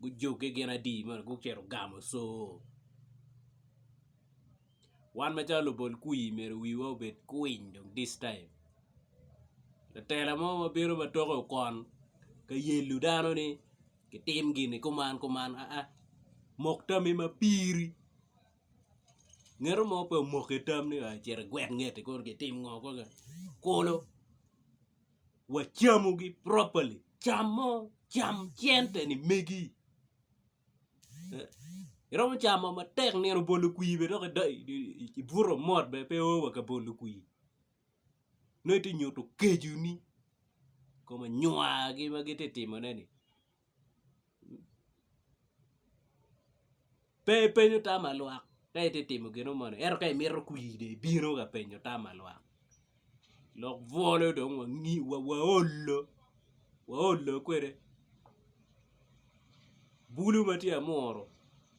gujoge gin adi ma onongo gucito gamo coo wan macalo lubol kwir myero wiwa obed kwiny dong this time latela mo ma bino ma toke okon ka yelo dano ni kitim gini kuman kuman aa mok tami ma piri ngeto mo pe omoko itammi aa cit igwel ngeti kong kitim ngo kong kulu. wacamogi properly camo cam cente ni megi iromo camo matek nino bolo kwir bene dok ibuto mot bene pe oo wa ka bolo kwir nongo iti nyuto keconi kom anyuwagi ma giti timone ni. Pe ipenyo tama lwak ka itye ka timo gino moni ento ka imito kwi dong ibino ka penyo tama lwak lok bwolo dong waolo waolo kwede bulu ma tye amuru.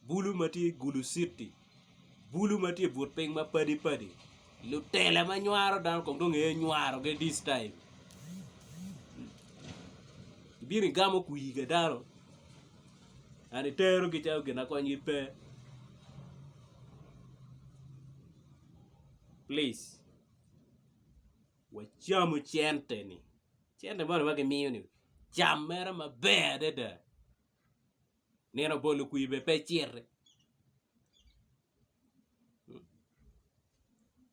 Bulu ma tye i Guluciti, bulu ma tye i but piny ma padi padi, lutela ma nywaro dano kong dong ee nywarogi this time, ibino igamo kwii ka dano and iterogi calo gin ma konygi pe please wacamu cente ni, cente moni ma gimiyo ni cam mere maber adada. Nino bolo kwir bene pe citi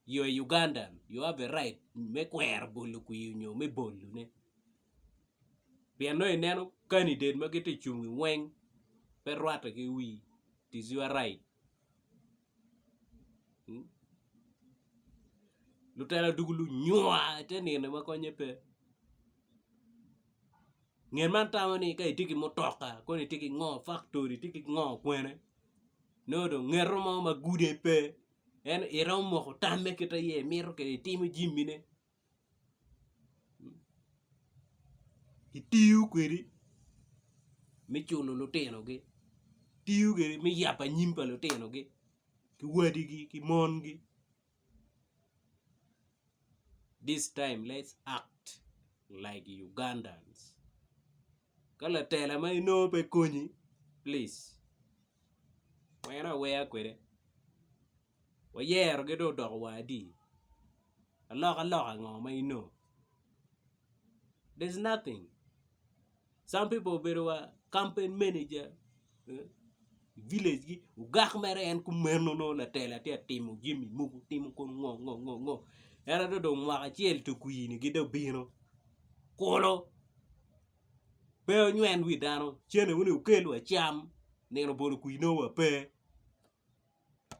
you a Ugandan you have a right me kwero bolo kwir nyo me bolo ne pien nongo ineno kandidet ma giti cung weng pe rwate ki wii it is your right. Lutela dwogo lunywa ite nino ma konye pe ngen man tamo ni ka itye ki mutoka kong itye ki ngo faktori itye ki ngo kwene nongo dong ngeto mo ma gudo pe ento iromo moko tamme kit ma iye imito kwede itimo jami ne. kitiyo kwedi me cuno lutinogi kitiyo kwedi me yabo anyim pa lutinogi ki wadigi ki mongi this time let's act like Ugandans ka latela ma inongo pe konyi please wene awena kwede. wayerogi dong odoko wa adi aloka loka ngo ma inongo there's nothing some people obedo wa campaign manager village gi ogak mere en kumeno nongo latelo tye ka timo jami mogo timo kong ngo ngo ngo ngo ento ka dong mwaka acel to kwir ni gi dong obino kulu pe onywen wi dano cente wun aye wukel wa cam nino bolo kwir nongo wa pe.